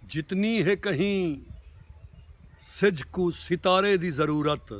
جتنی ہے کہیں سجھ کوں ستارے دی ضرورت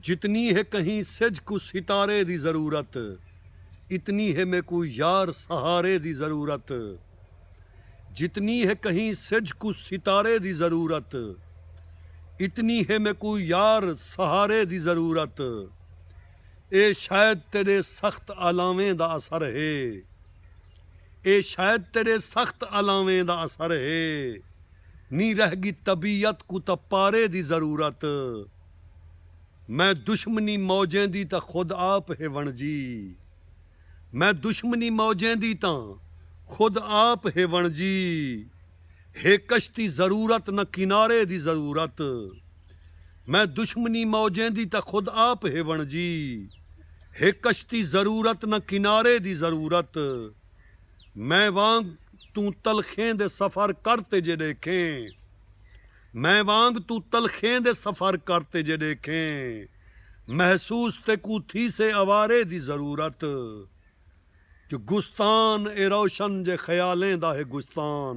جتنی ہے کہیں سجھ کوں ستارے دی ضرورت اتنی ہے میکوں یار سہارے دی ضرورت جتنی ہے کہیں سجھ کوں ستارے دی ضرورت اتنی ہے میکوں یار سہارے دی ضرورت اے شاید تیڈے سخت آلاویں دا اثر ہے۔ اے شاید تیڈے سخت الاویں دا اثر ہے۔ نی رہ گی طبیعت کوں تاں پارے دی ضرورت۔ میں دشمنی موجیں دی تاں خود آپ ہے ونجی۔ میں دشمنی موجیں دی تاں خود آپ ہے ونجی۔ ہے کشتی ضرورت نہ کنارے دی ضرورت۔ میں دشمنی موجیں دی تاں خود آپ ہیوݨ جی ہے کشتی ضرورت نہ کنارے دی ضرورت میں وانگ توں تلخیں دے سفر کر تے جے ݙیکھیں میں وانگ توں تلخیں دے سفر کر تے جے ݙیکھیں محسوس تیکوں تھیسے اوارے دی ضرورت جو گستان اے روشن جے خیالیں دا ہے گستان۔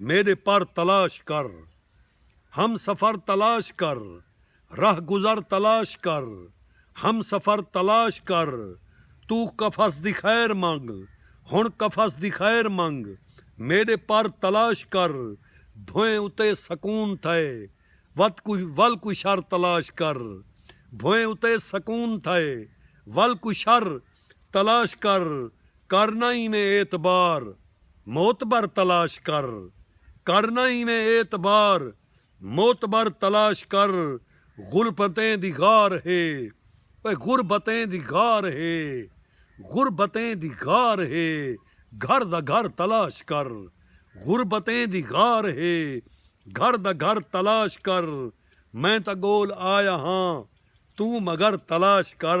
میݙے پر تلاش کر ہم سفر تلاش کر رہ گزر تلاش کر ہم سفر تلاش کر توں قفس دی خیر منگ ہݨ قفس دی خیر منگ میݙے پر تلاش کر بھوئیں اتے سکون تھئے وت کو ول کوئی شر تلاش کر بھوئیں اتے سکون تھئے ول کوئی شر تلاش کر کرنا اینویں اعتبار معتبر تلاش کر کرنا اینویں اعتبار معتبر تلاش کر غربتیں دی غار ہے اوئے غربتیں دی غار ہے غربتیں دی غار ہے گھر دا گھر تلاش کر غربتیں دی غار ہے گھر دا گھر تلاش کر میں تاں گول آیا ہاں توں مگر تلاش کر